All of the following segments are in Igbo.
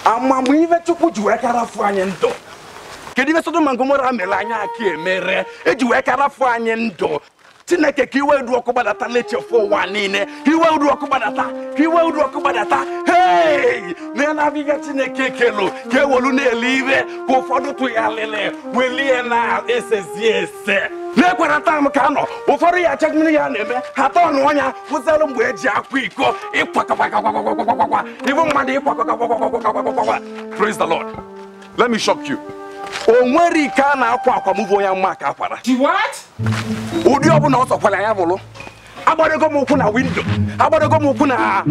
ama m ife chukwu ji wee ka rafu anyị ndụ kedu ife sodom na gomora mere anyị aka emere e ji wee ka rafu anyị ndụ chineke ka iwe udu ọkụ gbadata n'echefu ụwa niile ka iwe udu ọkụ gbadata ka iwe udu ọkụ gbadata hei na na-abịga chineke kelu ka ewelu na-ele ire ka ụfọdụ tụgharịrị welie na esezi ese na-ekwere taa m ka a nọ ụfọdụ ya acha mmiri ya na-eme ha tọọ ọnụ ọnya kwụsịrụ mgbe e ji akwa iko ịkwakọkwakọkwakwakwakwa Even mmadụ ịkwakwakwakwakwakwakwakwa. Praise the Lord. Let me shock you. O nwere ike a na-akwa akwa mụbụ onye mma ka akwara. She what? Ụdị ọbụla ọ sọkwara ya bụrụ. Agbarego m ụkwụ na window. Agbarego m ụkwụ na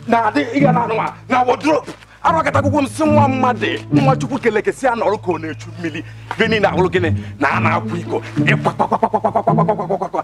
na adị ịga na anụwa na wardrobe. Arọkọtagwụgwọ m si nwa mmadụ nwa Chukwu keleke si a nọrọ ka ọ na-echu mmiri. Gịnị na-ahụrụ gịnị na a na-akwa iko ịkwakwakwa.